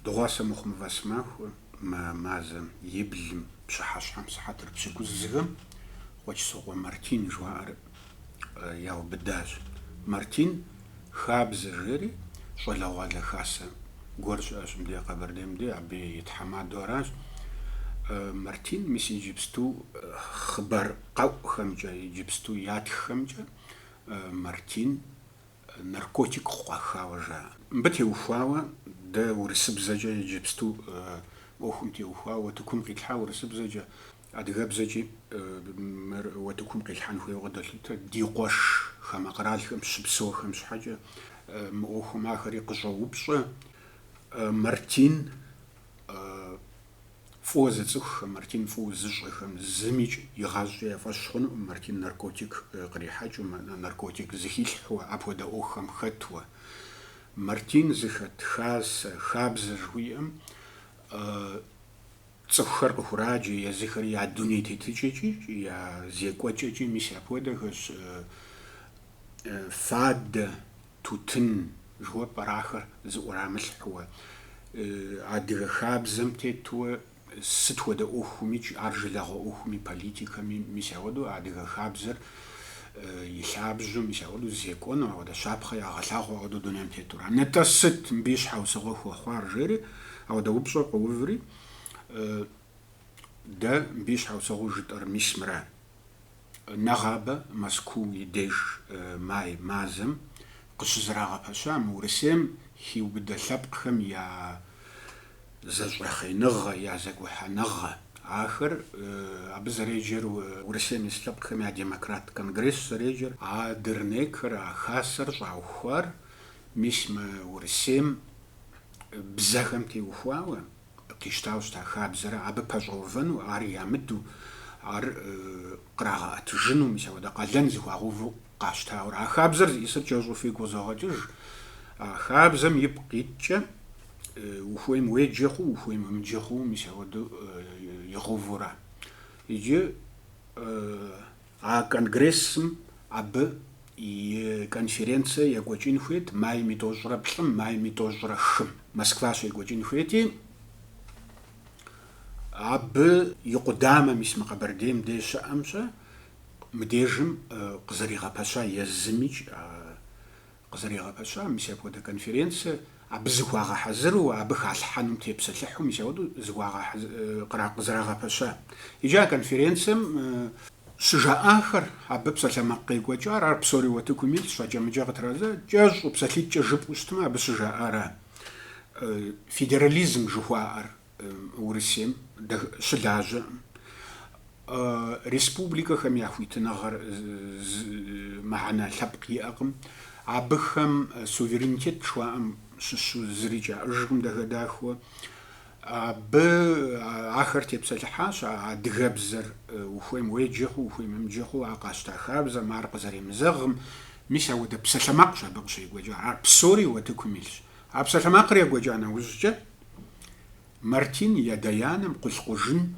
Дыгъуасэ мыхъумэ вэсэмахуэ мы мазэм и блым пщыхьэщхьэм сыхьэтыр пщыкӏузхэм Къуэчсокъуэ Мартин жыхуаӏэр яубыдащ. Мартин Хабзэ жери щӏалэгъуалэ хасэ гуэр щыӏэщ мыдэ Къэбэрдейм де, абы и тхьэмадэу аращ. Мартин мис иджыпсту хъыбар къэӏухэмкӏэ, иджыпсту ятххэмкӏэ Мартин наркотик къыкъуахауэ жаӏэ. Мыбы теухуауэ дэ урысыбзэкӏэ иджыпсту мы ӏуэхум теухуауэ уэтыкум къитлъхьа урысыбзэкӏэ, адыгэбзэкӏи уэтыкум къилъхьэн хуейуэ къыдолъытэ. Ди къуэш хамэ къэралхэм щыпсэухэм щхьэкӏэ мы ӏуэхум ахэри къыщӏоупщӏэ. Мартин фӏыуэ зыцӏыхухэм, Мартин фӏыуэ зыщӏэхэм зымикӏ игъащӏэкӏэ я фӏэщ хъунукъым Мартин наркотик кърихьэкӏыу, наркотик зыхилъхьэуэ, апхуэдэ ӏуэхухэм хэтуэ. Мартин зыхэт хасэ Хабзэ жыхуиӏэм цӏыхухэр къыхураджэ, езыхэри я дуней тетыкӏэкӏи, я зекӏуэкӏэкӏи мис апхуэдэхэщ, фадэ, тутын жыхуэпӏэр ахэр зыӏурамылъхьуэ, адыгэ хабзэм тетуэ сыт хуэдэ ӏуэхумикӏ, ар жылэгъуэ ӏуэхуми, политикэми, мис ауэдэу адыгэ хабзэр и лъабжьэу, мис ауэдэу зекӏуэну, ауэдэ щапхъэ ягъэлъагъуу ауэдэу дунейм тетура. Нытӏэ сыт мыбы и щхьэусыгъуэ хуэхъуар жери, ауэдэ упщӏэ къыуври, дэ мыбы и щхьэусыгъуэу жытӏэр мис мыра. Нэгъабэ Мэзкуу и деж май мазэм къыщызэрагъэпэща мы Урысейм хиубыдэ лъэпкъхэм я зэщӏэхъеныгъэ, я зэгухьэныгъэ. Ахэр, абы зэреджэр Урысейм ис лъэпкъхэм я демократ конгресс зэреджэр, а дернекыр, а хасэр щӏаухуар мис мы Урысейм бзэхэм теухуауэ къищтауэ щыта хабзэрэ, абы пэщӏэувэну, ар ямыду, ар кърагъэӏэтыжыну, мис апхуэдэ къалэн зыхуагъэуву къащтауэрэ. А хабзэр зиӏысыр кӏэщӏу фигу къызогъэкӏыж. А хабзэм ипкъ иткӏэ, ухуейм уеджэ хъу, ухуейм уемыджэ хъу, мис апхуэдэу игъэувурэ. Иджы а конгрессым абы и конференцие екӏуэкӏын хуейт майм итӏощӏрэ плӏым, майм итӏощӏрэ хым. Москва щекӏуэкӏын хуейти, абы и къудамэ, мис мы Къэбэрдейм де щыӏэмкӏэ, мыдежым къызэригъэпэща езымикӏ а Къызэригъэпэща, мис апхуэдэ конференцэ абы зыхуагъэхьэзыру, абы халъхьэнум тепсэлъыхьу, мис ауэдэу къызэрагъэпэща. Иджы а конференцэм щыжаӏахэр, абы псалъэмакъ къекӏуэкӏар, ар псори уэтыкум илъщ, акӏэ-мыкӏэ къытрадзэ, кӏэщӏу, псалъитӏкӏэ жыпӏэу щытмэ, абы щыжаӏара федерализм жыхуаӏэр. Урысейм щылажьэкъым, республикэхэм я хуитыныгъэр мыхьэнэ лъэпкъ иӏэкъым. Абыхэм суверенитет жыхуаӏэм щыщу зырикӏ яӏэжкъым дахэ-дахэу. Абы ахэр тепсэлъыхьащ а адыгэбзэр ухуейм уеджэ хъу, ухуейм умыджэ хъу, а къащта хабзэм, ар къызэремызэгъым. Мис ауэдэ псалъэмакъщ абы къыщекӏуэкӏар. Ар псори утыкум илъщ. А псалъэмакъыр екӏуэкӏа нэужькӏэ Мартин и адэ-анэм Къулъкъужын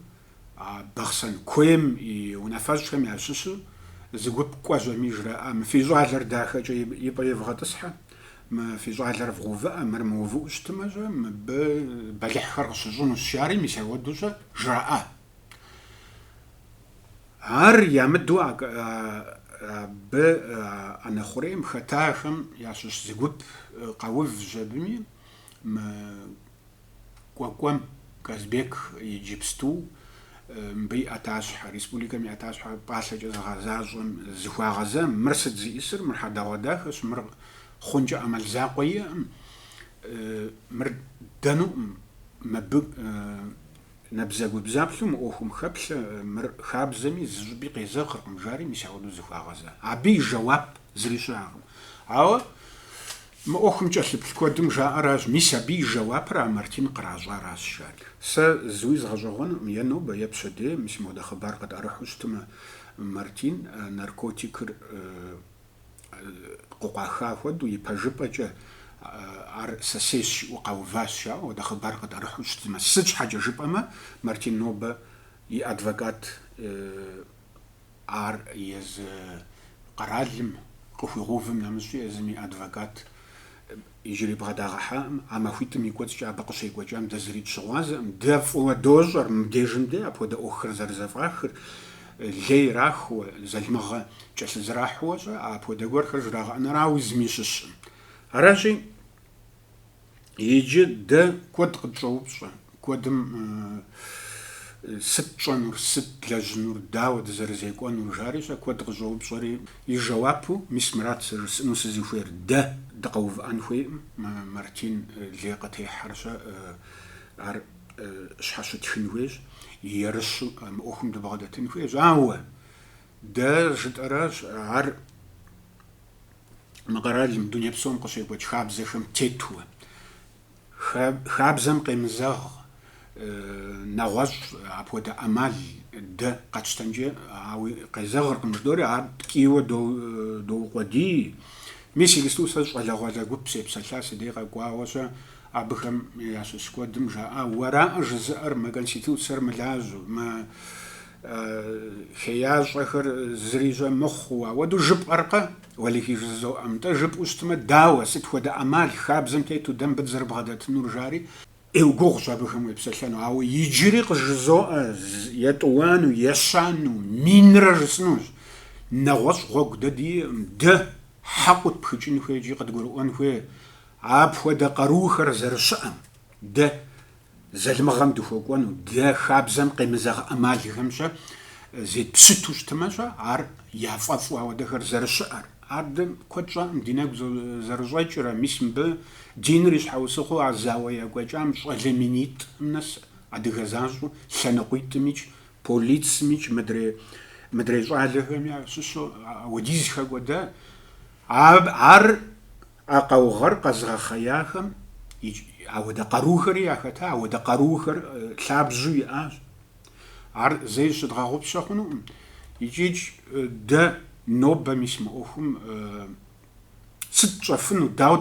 Бахъсэн куейм и унафэщӏхэм ящыщу зы гуп кӏуэщ абыми жраӏэ, Мы фи щӏалэр дахэкӏэ и пӏэ ивгъэтӏысхьэ, мы фи щӏалэр вгъэувыӏэ, мыр мыувыӏэу щытымэ-щэ, мыбы бэлыхьхэр къыщыщӏынущ, жари мис ауэдэу-щэ жраӏэ. Ар ямыдэу абы ӏэнэ хъурейм хэтахэм ящыщ зы гуп къэувщ абыми, Мы Кӏуэкӏуэм Казбек иджыпсту мыбы и ӏэтащхьэ, республикэм и ӏэтащхьэ пӏалъэкӏэ зыгъэзащӏэм зыхуагъэза, мыр сыт зиӏысыр, мыр хьэдэгъуэдахэщ, мыр хъункӏэ ӏэмал закъуэ иӏэкъым, мыр ддэнукъым, мыбы набдзэгубдзаплъэу мы ӏуэхум хэплъэ, мыр хабзэми зы щӏыпӏи къезэгъыркъым, жари мис ауэдэу зыхуагъэза. Абы и жэуап зыри щыӏэкъым. Ауэ Мы ӏуэхум кӏэлъыплъ куэдым жаӏэращ, мис абы и жэуапыр а Мартин къращӏаращ, жари. Сэ зыуи згъэщӏэгъуэнукъым, е нобэ, е пщэдей, мис ауэдэ хъыбар къытӏэрыхьу щытмэ, Мартин наркотикыр къыкъуаха хуэдэу, и пэжыпӏэкӏэ ар сэ сейщ жиӏэу къэуващ, жаӏэу ауэдэ хъыбар къытӏэрыхьу щытмэ. Сыт щхьэкӏэ жыпӏэмэ, Мартин нобэ и адвокат. Ар езы къэралым къыхуигъэувым нэмыщӏкӏэ езым и адвокат иджыри бгъэдагъэхьакъым. А махуитӏым и кӏуэцӏкӏэ абы къыщекӏуэкӏам дэ зыри дыщыгъуазэкъым. Дэ фӏыуэ дощӏэр мыбдежым де апхуэдэ ӏуэхухэр зэрызэфӏахыр, лей ирахыу, залымыгъэ кӏэлъызэрахьэу-щэ, апхуэдэ гуэрхэр жрагъэӏэныр ауэ зыми щыщкъым. Аращи, Иджы дэ куэд къытщӏоупщӏэ, куэдым сыт тщӏэнур, сыт лэжьынур, дауэ дызэрызекӏуэнур жари-щэ куэд къыщӏоупщӏэри, и жэуапу мис мыращ сэ жысӏэну сызыхуейр, дэ дыкъэувыӏэн хуейкъым, Мартин лей къытехьэр-щэ, ар щхьэщытхын хуейщ, ерыщу мы ӏуэхум дыбгъэдэтын хуейщ, ауэ дэ жытӏэращ, ар мы къэралым дуней псом къыщекӏуэкӏ хабзэхэм тету. Хабзэм къемызэгъ нэгъуэщӏ апхуэдэ ӏэмал дэ къэтщтэнкӏэ, ауи къезэгъыркъым жыдоӏэри, ар ткӏийуэ доукъуэдий. Мис иджысту сэ щӏалэгъуалэ гуп сепсэлъа, си дей къэкӏуауэ-щэ абыхэм ящыщ куэдым жаӏа, уэракъэ жызыӏэр, мэ Конституцэр мылажьэу, мэ Хеящӏэхэр зыри-щэ мыхъуу, ауэдэу жыпӏэркъэ? Уэлэхьи жызоӏэ, нтӏэ, жыпӏэу щытмэ, дауэ, сыт хуэдэ ӏэмал хабзэм тету дэ мыбы дызэрыбгъэдэтынур, жаӏэри? Ӏейуэ гугъущ абыхэм уепсэлъэну, ауэ иджыри къыжызоӏэ, етӏуанэу, ещанэу, минрэ жысӏэнущ. Нэгъуэщӏ гъуэгу дэ диӏэкъым, дэ хьэкъыу тпхыкӏын хуей икӏи къыдгурыӏуэн хуей апхуэдэ къарухэр зэрыщыӏэм. Дэ Залымыгъэм дыхуэкӏуэну, дэ хабзэм къемызэгъ ӏэмалхэм-щэ зетпщыту щытымэ-щэ, ар яфӏэфӏу ауэдэхэр зэрыщыӏэр. Ар дэ куэд щӏакъым ди нэгу зэрыщӏэкӏрэ, мис мыбы диныр и щхьэусыгъуэу а зауэ екӏуэкӏам щӏалэ минитӏым нэс адыгэ защӏэу лъэныкъуитӏымикӏ, полицмикӏ, мыдрей, мыдрей щӏалэхэми ящыщу ауэдиз хэкӏуэда. Ар А къаугъэр къэзыгъэхъеяхэм ауэдэ къарухэри яхэта, ауэдэ къарухэр лъабжьэу иӏащ. Ар зэи щыдгъэгъупщэ хъунукъым. Икӏи-кӏ дэ нобэ мис мы ӏуэхум сыт тщӏэфыну, дауэ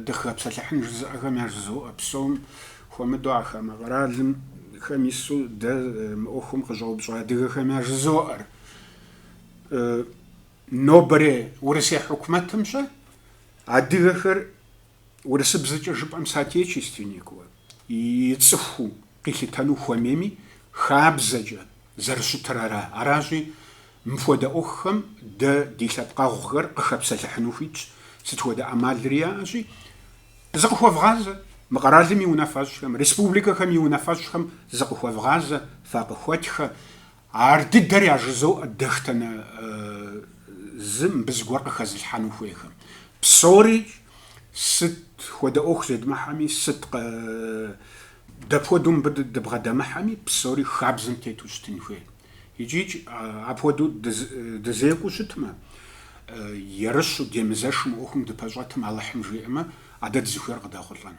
дыкъыхэпсэлъыхьын жызыӏэхэм яжызоӏэ. Псом хуэмыдэу а хамэ къэралым хэм ису дэ мы ӏуэхум къыщӏэупщӏэ адыгэхэм яжызоӏэр. Нобэрей Урысей хьукумэтым-щэ адыгэхэр урысыбзэкӏэ жыпӏэм соотечественникыуэ, и цӏыхуу къилъытэну хуэмейми, хабзэкӏэ зэрыщытыр ара. Аращи, мыпхуэдэ ӏуэхухэм дэ ди лъэпкъэгъухэр къыхэпсэлъыхьыну хуитщ, сыт хуэдэ ӏэмалри яӏэщи, зыкъыхуэвгъазэ, мы къэралым и унафэщӏхэм, республикэхэм и унафэщӏхэм зыкъыхуэвгъазэ, факъыхуэтхэ. Ар дыдэр яжызоӏэ дэхтэнэ зы мыбы зыгуэр къыхэзылъхьэну хуейхэм. Псори сыт хуэдэ ӏуэху зедмыхьэми, сыт дапхуэдэу мыбы дыбгъэдэмыхьэми, псори хабзэм тету щытын хуей. Икӏи-кӏ, апхуэдэу дызекӏуу щытмэ, ерыщу, демызэшу мы ӏуэхум дыпэщӏэтым Алыхьым жиӏэмэ, а дэ дызыхуейр къыдэхъулӏэн.